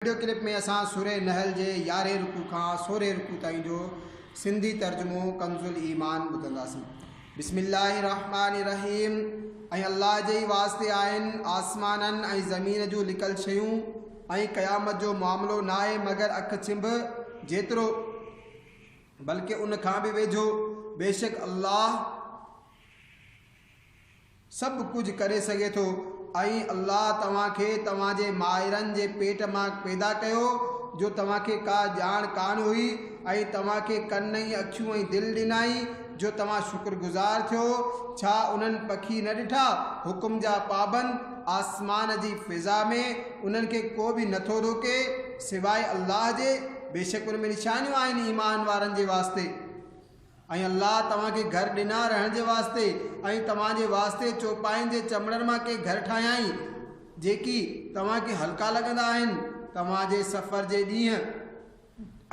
Video clip ۾ اسان سورة نحل جي يارهين رڪوع کان سورهين رڪوع تائين جو سنڌي ترجمو ڪنزالايمان ٻڌنداسين. بسم الله الرحمٰن الرحيم ۽ الله جي ئي واسطي آهن آسمانن ۽ زمين جون لڪل شيون ۽ قيامت جو معاملو ناهي مگر اک ڇنڀ جيترو بلڪه ان کان به ويجهو بيشڪ الله سڀ ڪجهه ڪري سگهي ٿو ۽ الله توهان کي توهان جي مائرن جي پيٽ مان پيدا ڪيو جو توهان کي ڪا ڄاڻ ڪانه هئي ۽ توهان کي ڪن ۽ اکيون ۽ دل ڏنائين جو توهان شڪر گذار ٿيو ڇا انهن پکي نه ڏٺا حڪم جا پابند آسمان جي فضا ۾ انهن کي ڪو به نه ٿو روڪي سواء الله جي بيشڪ ان ۾ نشانيون آهن ايمان وارن جي واسطي. ۽ الله توهان کي گهر ڏنا رهڻ جي واسطي ۽ توهان جي واسطي چوپاين جي چمڙن مان ڪي گهر ٺاهيائين، جيڪي توهان کي هلڪا لڳندا آهن، توهان جي سفر جي ڏينهن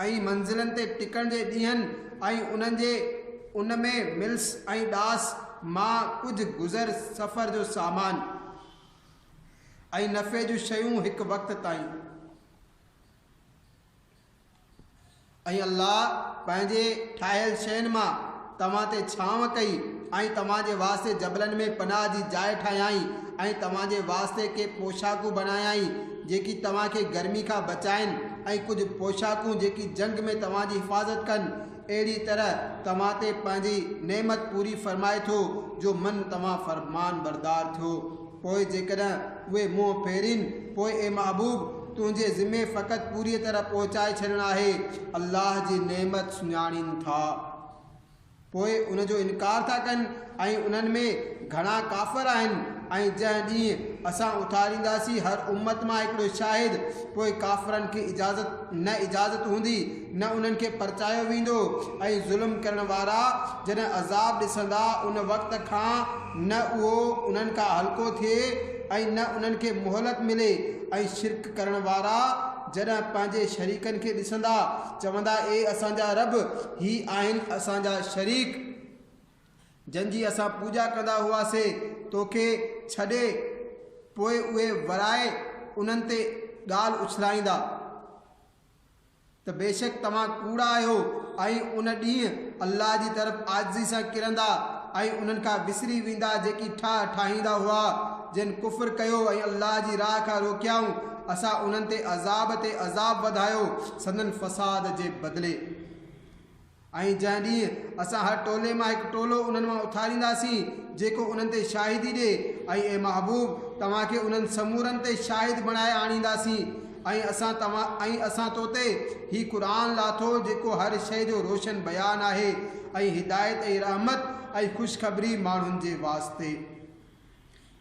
۽ منزلن تي ٽڪڻ جي ڏينهن ۽ انهن جي ان ۾ ملس ۽ ڏاس مان ڪجهه گذر سفر جو سامان ۽ نفعي جون شيون هڪ وقت تائين. ۽ الله پنهنجي ٺاهيل شين مان توهان تي ڇانو ڪئي ۽ توهان جي واسطي جبلن ۾ پناهه جي جاء ٺاهيائين ۽ توهان جي واسطي ڪي پوشاڪون بنايائين جيڪي توهان کي گرمي کان بچائين ۽ ڪجهه پوشاڪون جيڪي جنگ ۾ توهان جي حفاظت ڪن اهڙي طرح توهان تي پنهنجي نعمت پوري فرمائي ٿو جو من توهان فرمانبردار ٿيو. پوء جيڪڏهن اهي منهن ڦيرين، پوء اي محبوب! تنهنجي ذمي فقط پوريء طرح پهچائي ڇڏڻ آهي. الله جي نعمت سڃاڻين ٿا، پوء ان جو انڪار ٿا ڪن ۽ انهن ۾ گهڻا ڪافر آهن ۽ جنهن ڏينهن اسان اٿارينداسين هر امت مان هڪڙو شاهد، پوء ڪافرن کي اجازت نه اجازت هوندي، نه انهن کي پرچايو ويندو ۽ ظلم ڪرڻ وارا جڏهن عذاب ڏسندا ان وقت کان نه اهو انهن کان هلڪو ٿئي ۽ نه انهن کي مهلت ملي ۽ شرڪ ڪرڻ وارا جڏهن پنهنجي شريڪن کي ڏسندا چوندا اي اسان جا رب هي آهن اسان جا شريڪ جن جي اسان پوڄا ڪندا هئاسي توکي ڇڏي پوء اهي ورائي انهن تي ڳالهه اڇلائيندا ته بيشڪ توهان ڪوڙا آهيو ۽ ان ڏينهن الله جي طرف عاجزي سان ڪرندا ۽ انهن کان وسري ويندا جيڪي ٺاهه ٺاهيندا هئا جن ڪفر ڪيو ۽ الله جي راهه کان روڪيائون اسان انهن تي عذاب تي عذاب وڌايو سندن فساد جي بدلي. ۽ جنهن ڏينهن اسان هر ٽولي مان هڪ ٽولو انهن مان اٿارينداسين، جيڪو انهن تي شاهدي ڏي، ۽ اي محبوب! توهان کي انهن سمورن تي شاهد بڻائي آڻينداسين، ۽ اسان توهان ۽ اسان تو تي هي قرآن لاٿو جيڪو هر شيء جو روشن بيان آهي، ۽ هدايت ۽ رحمت ۽ خوشخبري ماڻهن جي واسطي.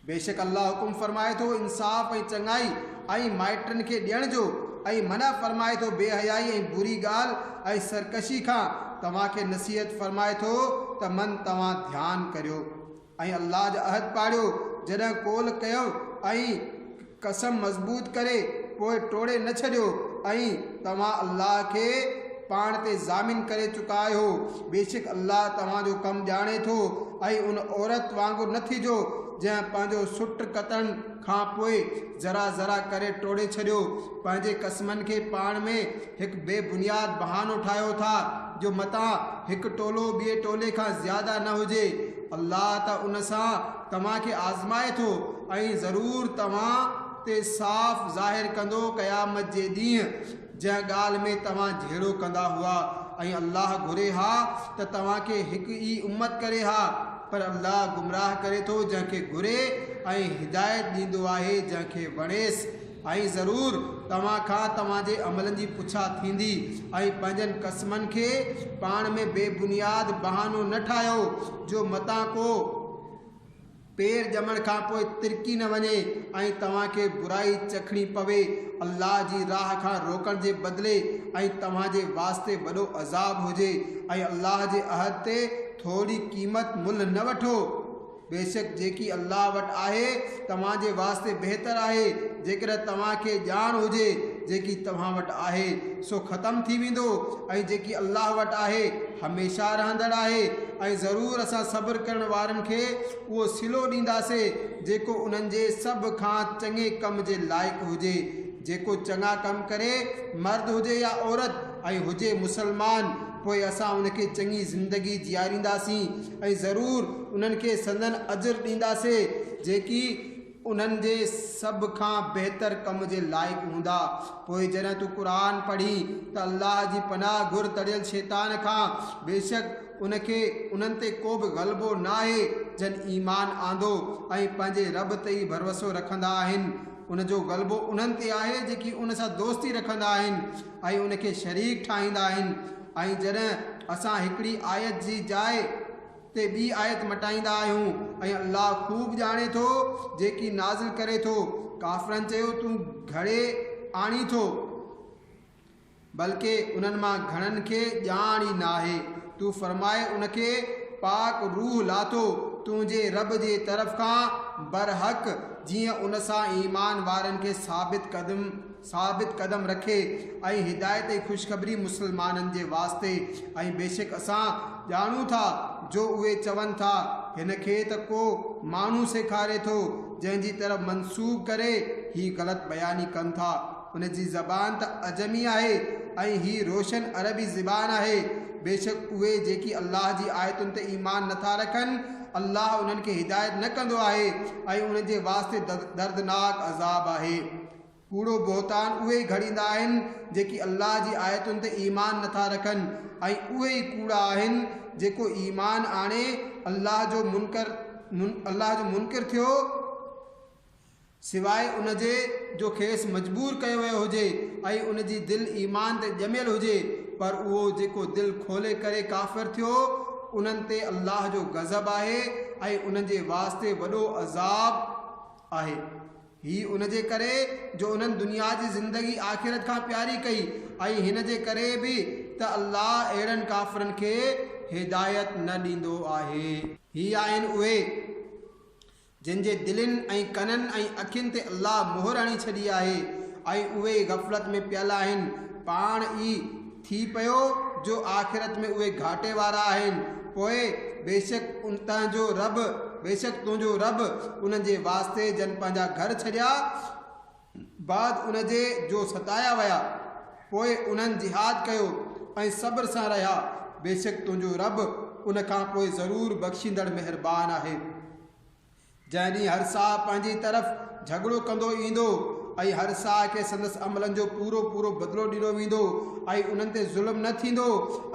بيشڪ الله حڪم فرمائي ٿو انصاف ۽ چڱائي ۽ مائٽن کي ڏيڻ جو ۽ منع فرمائي ٿو بي حيائي ۽ بري ڳالهه ۽ سرڪشي کان، توهان کي نصيحت فرمائي ٿو ته من توهان ڌيان ڪريو ۽ الله جا عهد پاڙيو جڏهن قول ڪيو ۽. قسم مضبوط ڪري پوء ٽوڙي نه ڇڏيو ۽ توهان الله کي پاڻ تي ضامن ڪري چڪا آهيو بيشڪ الله توهان جو ڪم ڄاڻي ٿو ۽ ان عورت وانگر نه ٿيجو جنهن پنهنجو سٽ ڪتڻ کان پوء ذرا ذرا ڪري ٽوڙي ڇڏيو پنهنجي قسمن کي پاڻ ۾ هڪ بي بنياد بهانو ٺاهيو ٿا جو متان هڪ ٽولو ٻئي ٽولي کان زياده نه هجي الله ته ان سان توهان کي آزمائي ٿو ۽ ضرور توهان تي صاف ظاهر ڪندو قيامت جي ڏينهن جنهن ڳالهه ۾ توهان جهيڙو ڪندا هئا ۽ الله گهري ها ته توهان کي هڪ ئي امت ڪري ها پر الله گمراهه ڪري ٿو جنهن کي گهري ۽ هدايت ڏيندو آهي جنهن کي وڻيس ۽ ضرور توهان کان توهان جي عملن جي پڇا ٿيندي ۽ پنهنجن قسمن کي پاڻ ۾ بي بنياد بهانو نه ٺاهيو جو متان ڪو پير ڄمڻ کان پوء ترڪي نه وڃي ۽ توهان کي برائي چکڻي پوي الله جي راهه کان روڪڻ جي بدلي ۽ توهان جي واسطي وڏو عذاب هجي ۽ الله جي عهد تي ٿوري قيمت ملهه نه وٺو. بيشڪ جيڪي الله وٽ آهي توهان جي واسطي بهتر آهي، جيڪڏهن توهان کي ڄاڻ هجي، جيڪي توهان وٽ آهي، سو ختم ٿي ويندو، ۽ جيڪي الله وٽ آهي، هميشه رهندڙ آهي، ۽ ضرور اسان صبر ڪرڻ وارن کي اهو صلو ڏينداسين جيڪو انهن جي سڀ کان چڱي ڪم جي لائق هجي، جيڪو چڱا ڪم ڪري، مرد هجي يا عورت، ۽ هجي مسلمان. پوء اسان ان کي چڱي زندگي جيارينداسين ۽ ضرور انهن کي سندن اجر ڏينداسي جيڪي انهن جي سڀ کان بهتر ڪم جي لائق هوندا. پوء جڏهن تون قرآن پڙهين ته الله جي پناهه گهر تڙيل شيطان کان، بيشڪ ان کي انهن تي ڪوبه غلبو ناهي جن ايمان آندو ۽ پنهنجي رب تي ئي ڀروسو رکندا آهن. ان جو غلبو انهن تي آهي جيڪي ان سان دوستي رکندا آهن. ۽ ان کي شريڪ ٺاهيندا آهن ۽ جڏهن اسان هڪڙي آيت جي جاء تي ٻي آيت مٽائيندا آهيون ۽ الله خوب ڄاڻي ٿو جيڪي نازل ڪري ٿو ڪافرن چيو تون گهڙي آڻين ٿو بلڪه انهن مان گهڻن کي ڄاڻ ئي ناهي تون فرماء ان کي پاڪ روح لاٿو تنهنجي رب جي طرف کان برحق جيئن ان سان ايمان وارن کي ثابت قدم ثابت قدم رکي ۽ هدايت ۽ خوشخبري مسلمانن جي واسطي ۽ بيشڪ اسان ڄاڻون ٿا جو اهي چون ٿا هن کي ته ڪو ماڻهو سيکاري ٿو جنهن جي طرف منسوب ڪري هي غلط بياني ڪن ٿا ان جي زبان ته عجمي آهي ۽ هي روشن عربي زبان آهي بيشڪ اهي جيڪي الله جي آيتن تي ايمان نٿا رکن الله انهن کي هدايت نه ڪندو آهي ۽ انهن جي واسطي دردناڪ عذاب آهي. ڪوڙو بهتان اهي ئي گهڙيندا آهن جيڪي الله جي آيتن تي ايمان نٿا رکن ۽ اهي ئي ڪوڙا آهن جيڪو ايمان آڻي الله جو منڪر الله جو منڪر ٿيو سواء ان جي جو کيس مجبور ڪيو ويو هجي ۽ ان جي دل ايمان تي ڄميل هجي پر اهو جيڪو دل کولي ڪري ڪافر ٿيو انهن تي الله جو غضب آهي ۽ انهن جي واسطي وڏو عذاب آهي. هي ان جي ڪري جو انهن دنيا جي زندگي آخرت کان پياري ڪئي ۽ هن جي ڪري به ته الله اهڙن ڪافرن کي هدايت نه ڏيندو آهي. هي آهن اهي، جن جي دلين ۽ ڪنن ۽ اکين تي الله مهر هڻي ڇڏي آهي ۽ اهي غفلت ۾ پيل آهن، پاڻ ئي، ٿي پيو جو آخرت ۾ اهي گهاٽي وارا آهن، پوء بيشڪ تنهنجو رب بيشڪ تنهنجو رب انهن جي واسطي جن پنهنجا گهر ڇڏيا بعد ان جي جو ستايا ويا پوء انهن جهاد ڪيو ۽ صبر سان رهيا بيشڪ تنهنجو رب ان کان پوء ضرور بخشيندڙ مهربان آهي. جنهن ڏينهن هر ساهه پنهنجي طرف جهڳڙو ڪندو ايندو ۽ هر ساهه کي سندس عملن جو پورو پورو بدلو ڏنو ويندو ۽ انهن تي ظلم نه ٿيندو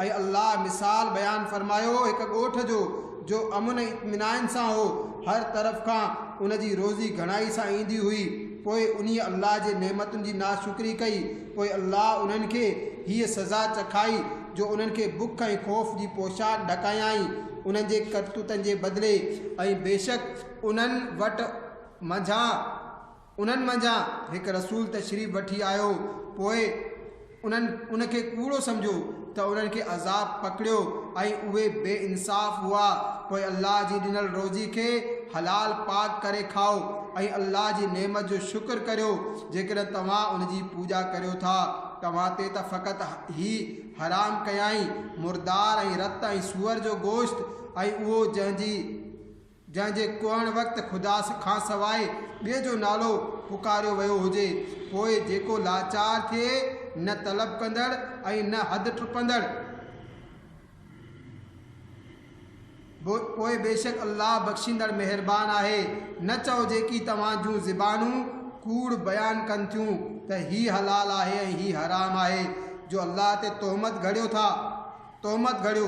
۽ الله مثال بيان فرمايو هڪ ڳوٺ جو جو امن ۽ اطمينائن سان هو هر طرف کان ان جي روزي گهڻائي سان ايندي هئي پوء انهي الله جي نعمتن جي ناشڪري ڪئي پوء الله انهن کي هيء سزا چکائي جو انهن کي بک ۽ خوف جي پوشاڪ ڍڪايائين انهن جي ڪرتوتن جي بدلي ۽ بيشڪ انهن وٽ منجهان انهن منجهان هڪ رسول تشريف وٺي آيو پوء انهن ان کي ڪوڙو سمجهيو ته انهن کي عذاب پڪڙيو ۽ اهي بي انصاف هئا پوء الله جي ڏنل روزي کي حلال پاڪ ڪري کائو ۽ الله جي نعمت جو شڪر ڪريو جيڪڏهن توهان ان جي پوڄا ڪريو ٿا. توهان تي ته فقط هي حرام ڪيائين، مردار ۽ رت ۽ سوئر جو گوشت، ۽ اهو جنهن جي، جنهن جي ڪوهڻ وقت خدا کانسواء ٻئي جو نالو پڪاريو ويو هجي، پوء جيڪو لاچار ٿئي، نه طلب ڪندڙ ۽ نه حد ٽپندڙ. پوء بيشڪ الله بخشيندڙ مهربان آهي. نه چئو جيڪي توهان جون زبانون ڪوڙ بيان ڪن ٿيون ته هي حلال آهي ۽ هي حرام آهي، جو الله تي تهمت گهڙيو ٿا، تهمت گهڙيو،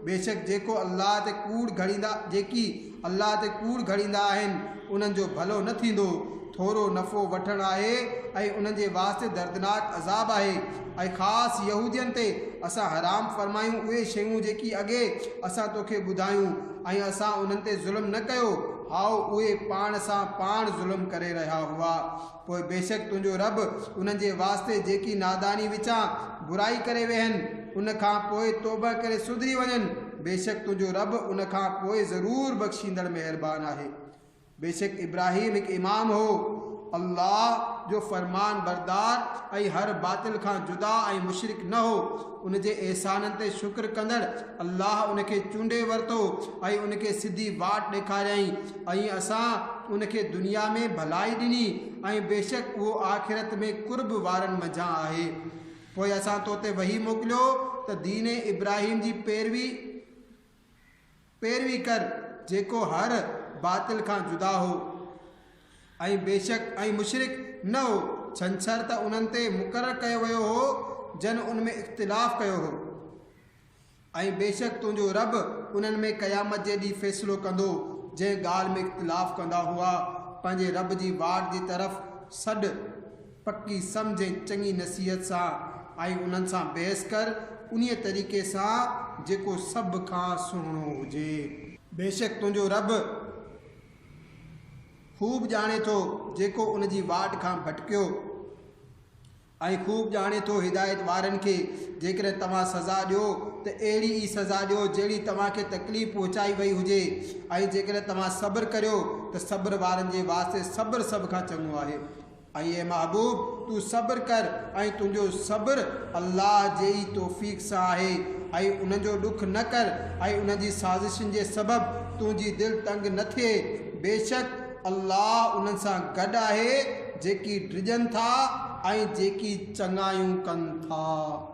بيشڪ جيڪو الله تي ڪوڙ گهڙيندا، جيڪي، الله تي ڪوڙ گهڙيندا آهن، انهن جو ڀلو نه ٿيندو، ٿورو نفعو وٺڻ آهي ۽ انهن جي واسطي دردناڪ عذاب آهي، ۽ خاص يهودين تي اسان حرام فرمايون اهي شيون جيڪي اڳي اسان توکي ٻڌايون ۽ اسان انهن تي ظلم نه ڪيو، هائو، اهي پاڻ سان پاڻ ظلم ڪري رهيا هئا. پوء بيشڪ تنهنجو رب انهن جي واسطي جيڪي ناداني وچان برائي ڪري ويهن، ان کان پوء توبهه ڪري سڌري وڃن، بيشڪ تنهنجو رب ان کان پوء ضرور بخشيندڙ مهربان آهي. بيشڪ ابراهيم هڪ امام هو، الله جو فرمانبردار ۽ هر باطل کان جدا ۽ مشرڪ نه هو. ان جي احسانن تي شڪر ڪندڙ الله ان کي چونڊي ورتو ۽ ان کي سڌي واٽ ڏيکاريائين ۽ اسان ان کي دنيا ۾ ڀلائي ڏني ۽ بيشڪ اهو آخرت ۾ قرب وارن منجهان آهي پوء اسان تو تي وحي موڪليو ته دين ابراهيم جي پيروي پيروي ڪر، جيڪو هر باطل کان جدا هو ۽ بيشڪ ۽ مشرڪ نه هو، ڇنڇر ته انهن تي مقرر ڪيو ويو هو جن ان ۾ اختلاف ڪيو هو ۽ بيشڪ تنهنجو رب انهن ۾ قيامت جي ڏينهن فيصلو ڪندو جنهن ڳالهه ۾ اختلاف ڪندا هئا پنهنجي رب جي واٽ جي طرف سڏ پڪي سمجهه ۽ چڱي نصيحت سان آئي انهن سان بحث ڪر، انهيء طريقي سان جيڪو سڀ کان سهڻو هجي. بيشڪ تنهنجو رب خوب ڄاڻي ٿو جيڪو ان جي واٽ کان ڀٽڪيو، ۽ خوب ڄاڻي ٿو هدايت وارن کي. جيڪڏهن توهان سزا ڏيو ته اهڙي ئي سزا ڏيو جهڙي توهان کي تڪليف پهچائي وئي هجي، ۽ جيڪڏهن توهان صبر ڪريو ته صبر وارن جي واسطي صبر سڀ کان چڱو آهي. اي محبوب! تون صبر ڪر ۽ تنهنجو صبر الله جي ئي توفيق سان آهي ۽ انهن جو ڏک نه ڪر ۽ انهن جي سازشن جي سبب تنهنجي دل تنگ نه ٿئي. بيشڪ الله انهن سان گڏ آهي جيڪي ڊڄن ٿا ۽ جيڪي چڱايون ڪن ٿا.